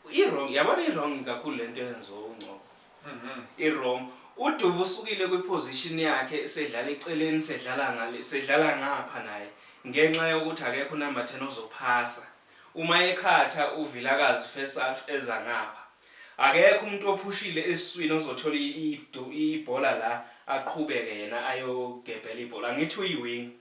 Irong yabona irong kakhulu lento yenziwa uNgcobo. Mhm. Irong uDubu usukile kwiposition yakhe sedlala eceleni sedlala ngale sedlala ngapha naye ngenxa yokuthi akekho number 10 ozophasa. Uma ekhatha uVilakazi first half eza ngapha. Akekho umuntu ophushile esiswini ozothola ibhola la aqhubeke yena ayogebhela ibhola. Angithi uyiwinger.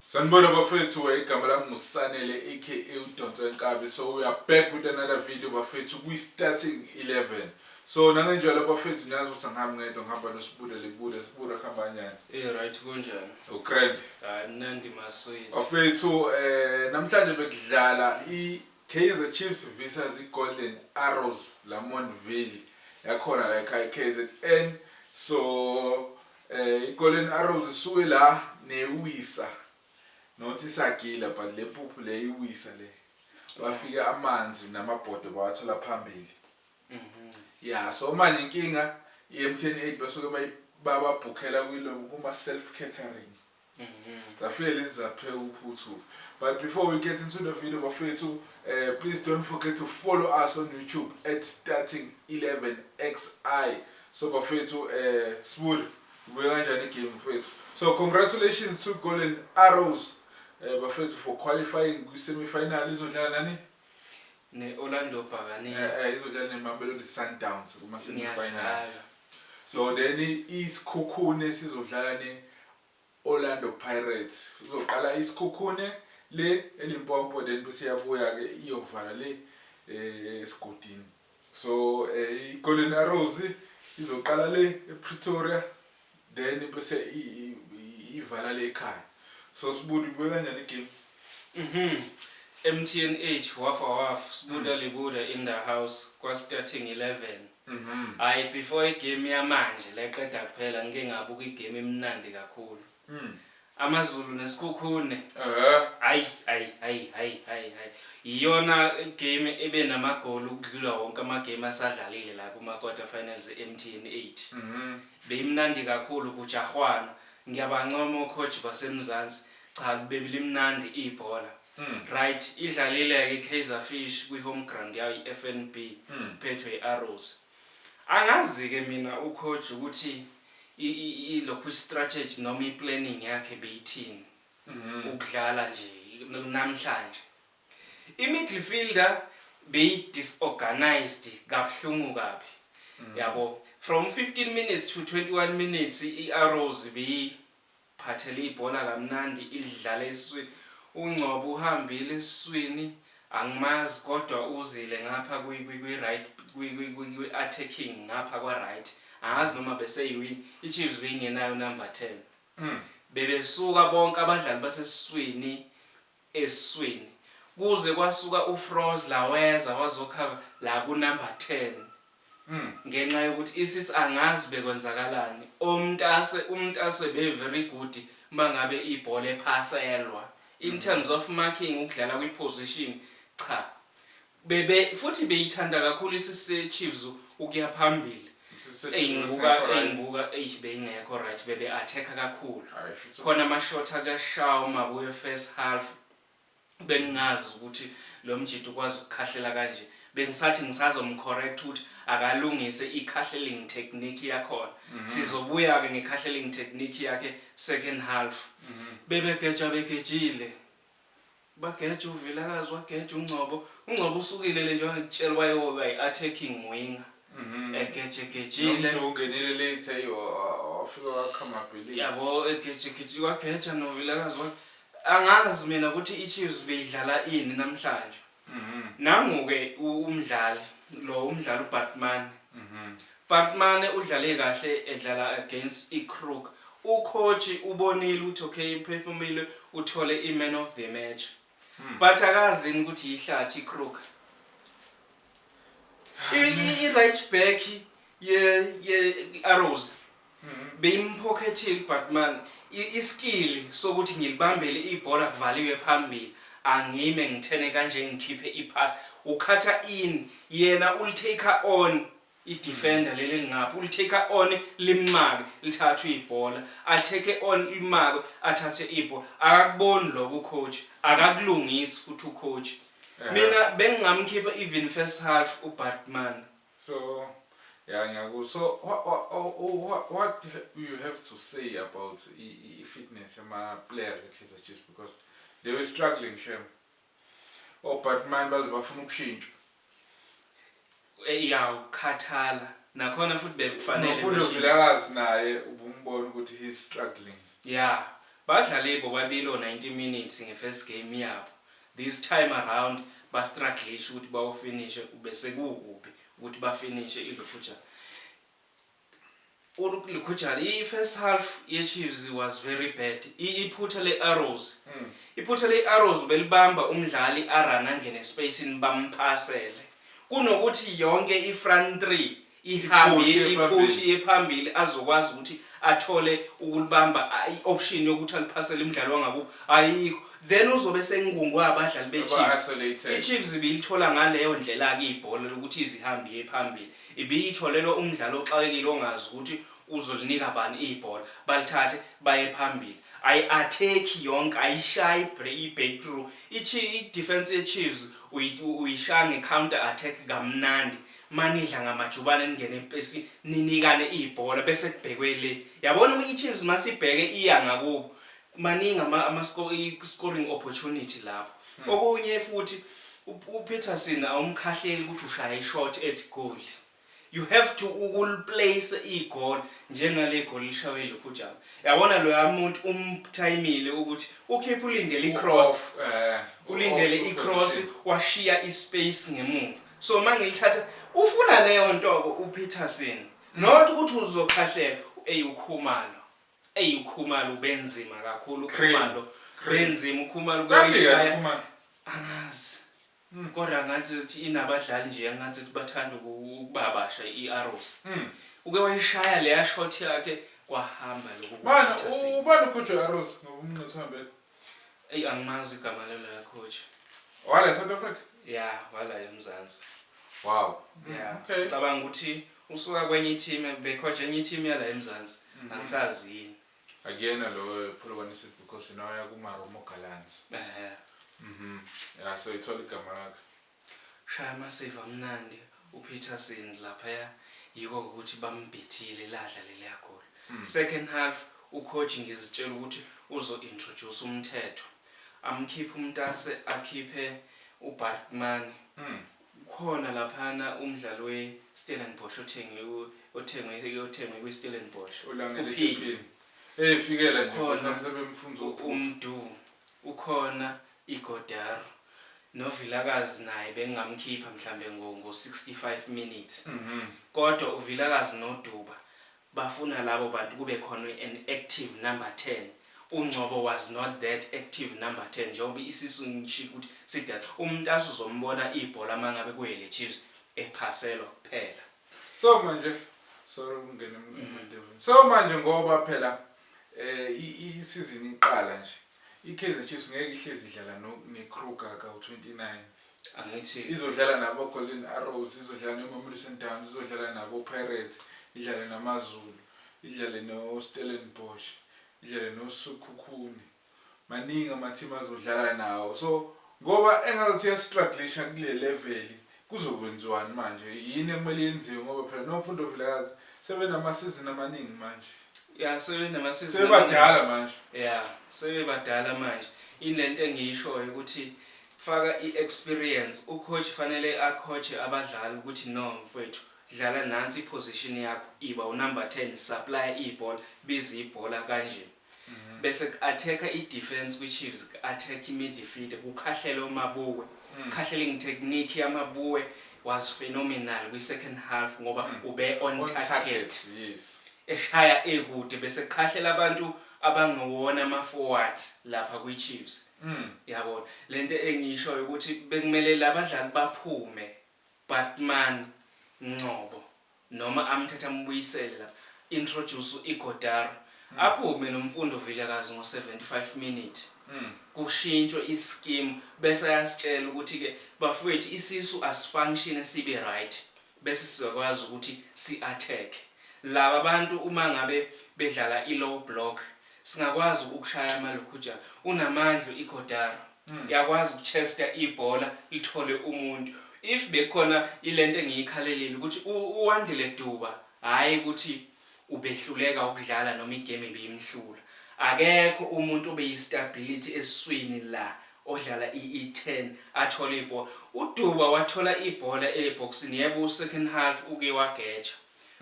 Sanibona bafethu igama lami ngusanele aka udonsa inkabi so we are back with another video bafethu kwi starting 11 so nangenjalo bafethu niyazi ukuthi angihambi ngedwa ngihamba nosibuda libuda sibuda kuhamba njani Eh right kunjani? ukrand Hayi mnandi maswidi. bafethu eh namhlanje bekudlala i Kaizer Chiefs versus i Golden Arrows Lamontville yakhona la ekhaya KZN so I Golden Arrows isuke la newisa not isagila but le mpuphu le iwisa le bafike amanzi namabhodo bawathola phambili mhm. ya so manje inkinga i-M10 8 basuke bababhukhela kuma self catering Bafethu lezi zapheka uphuthu. But before we get into the video bafethu, uh, please don't forget to follow us on YouTube at starting 11xi. So bafethu, uh, eh, sibuli ubuye kanjani game bafethu. So congratulations to Golden Arrows uh, bafethu for qualifying kwi-semi final izodlala nani? Ne-Orlando Bhakaniya. Eh, eh, izodlala neMamelodi Sundowns kuma-semifinal. Niyadlala. So then iSikhukhune sizodlala ne-Orlando Pirates. Kuzoqala iSikhukhune le eLimpopo then bese iyabuya-ke iyovala le eh, esigodini. So eh, i-Golden Arrows izoqala le ePretoria then bese ivala le ekhaya. So sibundi kubuye kanjani igame? Mhm. MTNH wafa wafa sibuda mm. libuda in the house kwa starting 11. Mhm. Hayi before igame yamanje leqeda kuphela ngike ngabuka igame emnandi kakhulu. Mhm. AmaZulu neSikhukhune. Ehhe. Hayi, hayi, hayi, hayi, hayi, hayi. Iyona game ebe namagoli ukudlula wonke amagame asadlalile la kuma-quarter finals e-MTN 8. Mhm. Beyimnandi kakhulu kujahwana. Ngiyabancoma o-coach baseMzansi. Cha belimnandi ibhola. Mm. Right, idlalile-ke iKaizer Fish kwi-home ground yayo iFNB Mm. iphethwe i-Arrows. Angazi-ke mina u-coach ukuthi ilokhu istrategy noma iplanning yakhe beyithini mhm. ukudlala nje namhlanje imidfielder beyi-disorganized kabuhlungu kabi mhm. yabo from 15 minutes to 21 minutes i-arrows beyi Phathele ibhola kamnandi ilidlale iswi uNgcobo uhambile eswini angimazi kodwa uzile ngapha kwi kwi kwi right kwi kwi kwi kwi attacking ngapha kwa right angazi noma bese iwi iChiefs beyingenayo number ten bebesuka bonke abadlali baseswini esiswini kuze kwasuka uFrozler weza wazokha la ku number ten ngenxa yokuthi isis angazi bekwenzakalani omntase umntase be very good mangabe ibhola ephaselwa in terms of marking ukudlala kwi position cha Bebe futhi beyithanda kakhulu isise Chiefs ukuya phambili. Eyinguka eyinguka eish beyingekho right bebe attack kakhulu. Khona ama shot aka Shaw makuyo first half bengingazi ukuthi lo mjita ukwazi ukukhahlela kanje. Bengisathi ngisazom correct ukuthi akalungise i khahleling technique yakhona. Sizobuya ke nge khahleling technique yakhe second half. Bebe geja begejile. Ubageja uVilakazi, wageja uNgcobo. UNgcobo usukile le njengoba ngikutshela wayewoba yi-attacking winger. Mhm. Egejegejile. Nomdu ungenile late ayi wa- wa- wafika wakhamabhe late. Yabo egejegejile wageja noVilakazi wa angazi mina ukuthi iChiefs beyidlala ini namhlanje. Mhm. Nangu-ke u- umdlali lo umdlali uBatman. Mhm. Bartmane udlale kahle edlala against iCrook. Ukhotshi ubonile ukuthi okay iphefumile uthole iMan of the match. But akazi yini ukuthi yihlathi iCrook. I- i- I-right back ye ye Arrows beyimphokethile uBartman I- iskill sokuthi ngilibambele ibhola kuvaliwe phambili angime ngithene kanje ngikhiphe ipass ukhatha in yena ulitake on I defender leli elingapha uli take on limake lithathe ibhola a take on limake athathe ibhola akakuboni lokho coach akakulungisi futhi u coach mina bengingamkhipha even first half u Batman so yeah ngiyaku so what, what, what you have to say about i fitness yama players e Kaizer Chiefs because they were struggling shame Obatman baze bafuna ukushintsha. Ya ukukhathala nakhona futhi bekufanele Nophule bashintshe. Vilakazi naye ubumbona ukuthi he is struggling. Ya badlale bobabili o 90 minutes nge first game yabo this time around ba strugglishe ukuthi bawu finishe ubesekuwukuphi ukuthi ba finishe ilokhu ja. Uruk Likhujana i first half ye Chiefs was very bad I iphutha le Arrows iphutha le Arrows ubelibamba umdlali a run angene espacini bamphasele kunokuthi yonke i front three ihambe i push iye phambili azokwazi ukuthi athole ukulibamba I option yokuthi aliphasele umdlali wangakubo ayikho then uzobe esengungwe abadlali be Chiefs I Chiefs ibilithola ngaleyo ndlelake ibhola lokuthi ize ihambe iye phambili Ibiyitholelwe umdlali oxakekile ongazi ukuthi uzolinika bani ibhola, balithathe baye phambili. Ayi-athekhi yonke, ayishayi i-breakthrough. I-defence yeChiefs uyishaya nge-counter attack kamnandi. Uma nidla ngamajubane ningene epesi ninikane ibhola bese kubhekwe le. Yabona iChiefs uma sibheke iya ngakubo, Maningi ama ama scoring opportunity lapho. Okunye futhi uPeterson awumkhahleli ukuthi ushaya ishot ethi goli. You have to ukuliplace igoli njengale goli lishaywe yiLukhujana. Yabona loya muntu umthayimile ukuthi ukhipha ulindele icross. Ulindele icross washiya ispace ngemuva. So mangilithatha ufuna leyo nto uPeterson. Not ukuthi uzokhahlela eyi uKhumalo. Eyi uKhumalo ubenzima kakhulu uKhumalo benzima uKhumalo kuyishaya angazi hmm. kodwa ngathi ukuthi inabadlali nje angathi ukuthi bathanda ukubabasha i-arrows hmm. uke wayishaya leya shot yakhe kwahamba lokho ubani ukhotshwe arrows ngoba umnqitho uhambele Eyi angimazi igama laloya coach. Wala eSouth Africa? Yeah, wala eMzansi. Wow. Yeah. Mm, okay. Cabanga ukuthi usuka kwenye team becoach enye team yala eMzansi. Mm-hmm. Angisazi yini. Akuyena lo Polokwane City because nawe yakuma Romo Gallants. Eh. Mhm. Yeah, so ithola igama lakhe. Shaya massive amnandi u Peterson laphaya yiko ukuthi bambhithile ladla leliya goal. Second half u coach ngizitshela ukuthi uzo introduce umthetho amkhiphe umtase akhiphe u Barkmani kukhona laphayana umdlali we Stellenbosch othengwe othengwe othengwe kwi Stellenbosch uPhini kukhona u Mdu ukhona Ighodaro. No Vilakazi naye bengingamkhipha mhlambe ngo ngo 65 minutes. Kodwa u Vilakazi no Duba bafuna labo bantu kube khona an active number 10. U Ngcobo was not that active number 10 njengoba isisu ngishilo ukuthi sidala. U Mtasa uzombona ibhola mangabe ku ele Chiefs ephaselwa kuphela. So manje, sorry ukungena emandebeni. So manje ngoba phela i i season iqala nje. IKaizer Chiefs ngeke ihlezi idlala no neKruger kawu 29. Angithi. Izodlala nabo Golden Arrows, izodlala neMamelodi Sundowns, izodlala nabo Pirates, idlale namaZulu, idlale no Stellenbosch, idlale no Sekhukhune. Maningi ama team azodlala nawo. So ngoba engathi uya strugglisha kule level Kuzokwenziwani manje? Yini ekumele yenziwe ngoba phela nophu uNtombi Vilakazi sebenamasizini amaningi manje? Ya sebenamasizini Sebebadala manje. Ya sebebadala manje. Yini le nto engiyishoyo ukuthi faka i-experience. U-coach fanele a-coach-e abadlali ukuthi no mfwethu dlala nansi i-position yakho, iba unumber ten, supply-a ibhola, biza ibhola kanje. bese ku-attack-a i-defence kwi-Chiefs, ku-attack i-midfield, kukhahlela oMabue, kukhahlela engithe Nick yaMabue was phenomenal kwi-second half ngoba ube on On target, target. yes. eshaya ekude bese kukhahlela abantu abangewona ama-forwards lapha kwi-Chiefs. Yabo, le nto engiyishoyo ukuthi bekumele la badlali baphume, Baartman, Ngcobo, noma amthathe amubuyisele la introduce Ighodaro aphume noMfundo Vilakazi ngo 75 minute kushintshwe I skim bese ayasitshela ukuthi ke bafwethu isisu asifunctione sibe right bese sizokwazi ukuthi si attack laba bantu uma ngabe bedlala I low block singakwazi ukushaya amalukhujana unamandla u Ighodaro. Yakwazi ukuchesta ibhola lithole umuntu. If bekukhona ilento engiyikhalelile ukuthi uWandile Duba hhayi ukuthi ubehluleka ukudlala noma igame ibimhlula. Akekho umuntu obeyistability esiswini la odlala i-ten athole ibhola. UDuba wathola ibhola ebhokisini yebo u-second half uke wageja.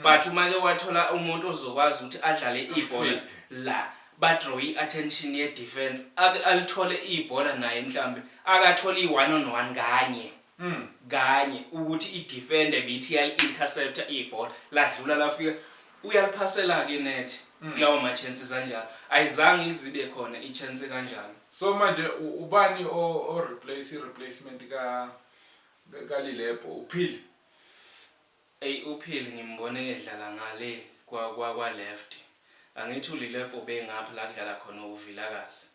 but uma ke wathola umuntu ozokwazi ukuthi adlale ibhola la badraw i-attention ye-defense ake alithole ibhola naye mhlambe akathole i-one on one kanye mm. kanye ukuthi i-defender bithi yali-intercepta ibhola ladlula lafika uyaliphasela-ke inethi mm. kulawo ma-chances anjalo ayizange izibe khona i-chance kanjalo so manje ubani o-replace i-replacement kalilebho uphile Ey uPhil ngimbone edlala ngale kwa kwa kwa left angithi uLilepo ubengapha la kudlala khona uVilakazi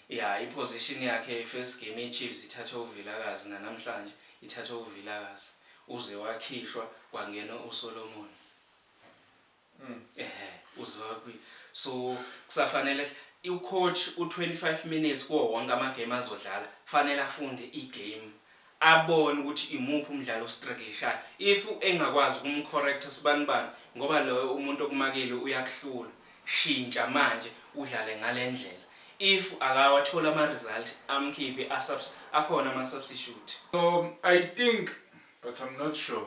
ya i position yakhe i first game ye Chiefs ithathwe uVilakazi nanamhlanje ithathwe uVilakazi uze wakhishwa kwangena uSolomon. Ehh uzwaphi so kusafanele u coach u 25 minutes kuwo wonke ama game azodlala kufanele afunde i game abone ukuthi imuphi umdlali ostruglishayo if engakwazi ukumu corrector sibanibani ngoba loyo umuntu okumakile uyakuhlula shintsha manje udlale ngalendlela if akawatholi ama result amkhiphe a akhona ama substitute. So I think but I'm not sure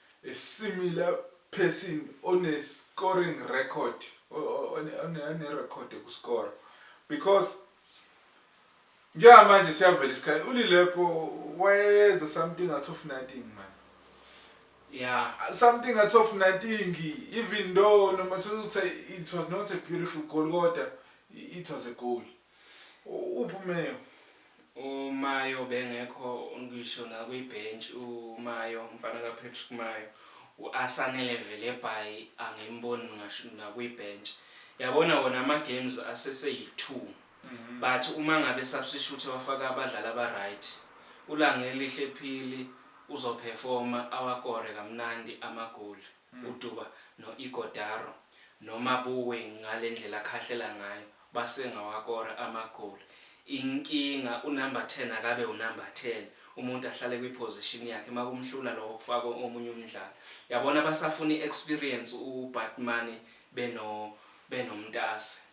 A similar person one scoring record one record yoku score because njengamanje siyavela isikhathi ulilepo wayenza something out of nothing man yeah something out of nothing even though no matter ukuthi it was not a beautiful goal kodwa it was a goal Uphi uMayo? UMayo ubengekho ngisho nakwibhentshi uMayo, umfana kaPatrick Mayo. U-Asanele Velebhayi angimboni ngasho nakwibhentshi. Yabona wona ama-games aseseyi-two but uma ngabe esabsishuthe wafaka abadlali aba-right, uLangelihle Phili uzophefoma awakore kamnandi amagoli. Muduba no Ighodaro no Mabuwe ngalendlela akhahlela ngayo base ngawakora amagoli inkinga u number ten akabe u number ten umuntu ahlale kwi position yakhe makumhlula lokho kufakwe omunye umdlali yabona basafuna i experience u Batmane beno beno Mtase.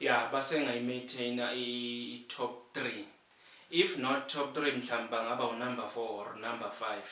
Yeah basenga yi maintainer i top three if not top three mhlambe bangaba u number four or number five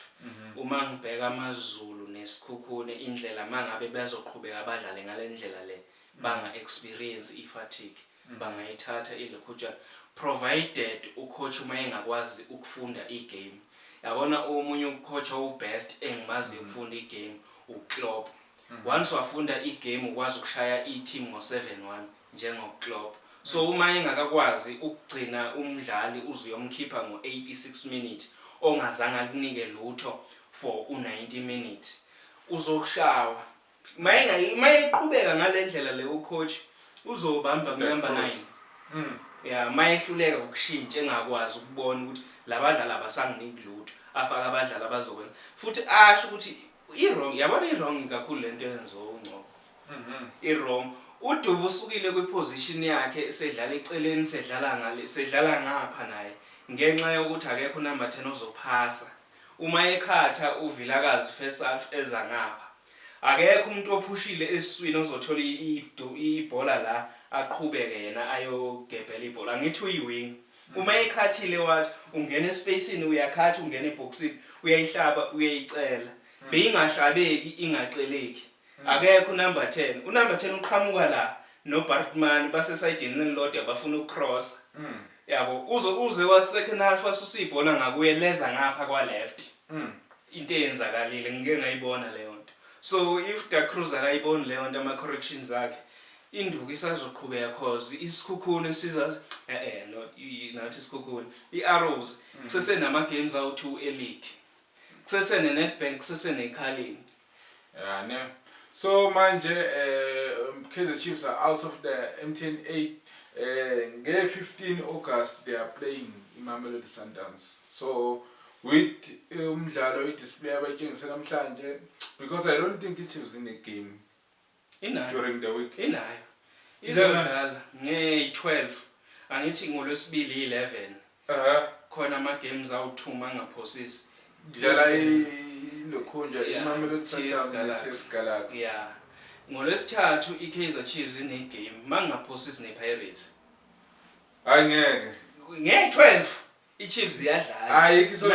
uma ngibheka amazulu ne Skhukhune indlela mangabe bazoqhubeka badlale ngalendlela le banga experience i fatigue bangayithatha ilikhutshana provided u coach uma engakwazi ukufunda i game yabona omunye u coach owu best engimaziyo ukufunda i game u Klopp. Once wafunda i game ukwazi ukushaya i team ngo 7 one njengo Klopp. So uma engakakwazi ukugcina umdlali uze uyomkhipha ngo 86 minute ongazange akunike lutho for u 90 minute uzokushawa. Uma eqhubeka ngalendlela le u coach uzobamba ku number 9. Ya uma ehluleka ukushintsha engakwazi ukubona ukuthi labadlali abasanginiki lutho afake abadlali abazokwenza futhi asho ukuthi Irong yabona irong kakhulu lento yenziwa uNgcobo. Mhm. Irong uDuba usukile kwiposition yakhe sedlala eceleni sedlala ngale sedlala ngapha naye ngenxa yokuthi akekho unumber 10 ozophasa. Uma ekhatha uVilakazi first half eza ngapha. Akekho umuntu ophushile esiswini ozothola ibhola la aqhubeke yena ayogebhela ibhola. Angithi uyiwinger. Uma ekhathile wathi ungena espacini uyakhatha ungena ebhokisini uyayihlaba uyayicela beyingahlabeki ingaceleki akekho unumber ten unumber ten uqhamuka la nobartman basesayidini elilodwa bafuna ukucrossa yabo uze uze wasecond half wasusa ibhola ngakuye leza ngapha kwaleft into eyenzakalile ngike ngayibona leyo nto so if da cruz akayiboni leyo nto ama-corrections akhe Induku isazoqhubeka cos isikhukhuni siza eh no ngathi isikhukhuni iArrows mm. kusese nama games awu 2 eleague kusese ne Nedbank kusese ne Carling yeah ne so manje eh Kaizer Chiefs are out of the MTN 8 eh nge 15 August they are playing iMamelodi Sundowns so with eh, umdlalo i display abayitshengise namhlanje because i don't think iChiefs in the game during the week inayo izodlala nge-12 angithi ngolwesibili yi-11 khona ama-games awu-2 mangaphosisi dlala ilokhunja imamelodi sundowns galaxy ya ngolwesithathu i-kaizer chiefs ine-game mangaphosisi ne-pirates hayi ngeke nge-12 i-chiefs iyadlala